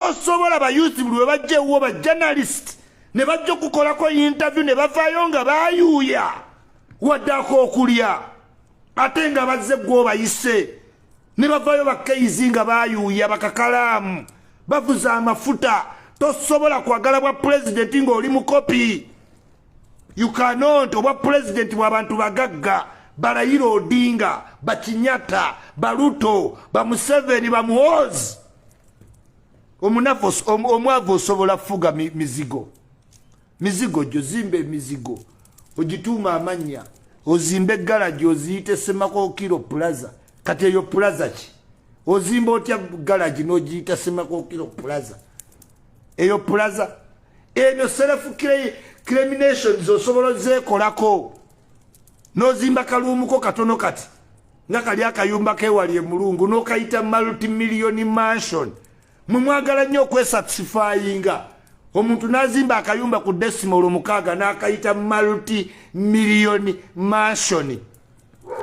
osobola bayuzi buli webajja ewuwo ba journalist ne bajja okukolako interview ne bavaayo nga bayuuya waddako okulya ate nga bazze gwobayise ne bavaayo bakeizi nga bayuuya bakakalaamu bavuza amafuta tosobola kwagala bwa pulezidenti ng'oli mukopi ukanot obwa pulezidenti bwabantu bagagga balayira odinga bakinyata baluto bamuseveni bamuhoozi omunafu omwavu osobola fuga mizigo mizigo gyo zimba emizigo ogituuma amannya ozimba egalagi oziyite semakokiro plaza kati eyo plaza ki ozimba otya galagi nogiyita semakokiro plaza eyo plaza ebyo self criminations osobola ozekolako nozimba kaluumuko katono kati nga kali akayumba kewali emulungu nokayita multimillion mansion mwe mwagala nnyo okwesatisifayinga omuntu nazimba akayumba ku decimal omukaaga nakayita multi million mansion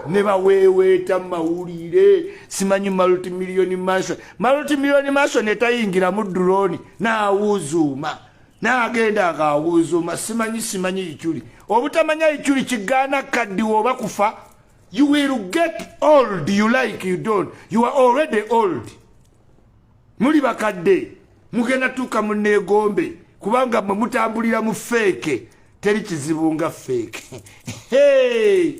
ne baweeweeta mawulire simanyi multi million mansion multi million mansion etayingira mu droni naawuzuuma naagenda ngaawuzuuma simanyi simanyi ikyuli obutamanya ikyuli kigaana kaddiwa oba kufa You will get old you like you don't. You are already old. Muli bakadde mugenda tuuka mu neegombe kubanga mwe mutambulira mu feeke teri kizibu nga feeke. Hey!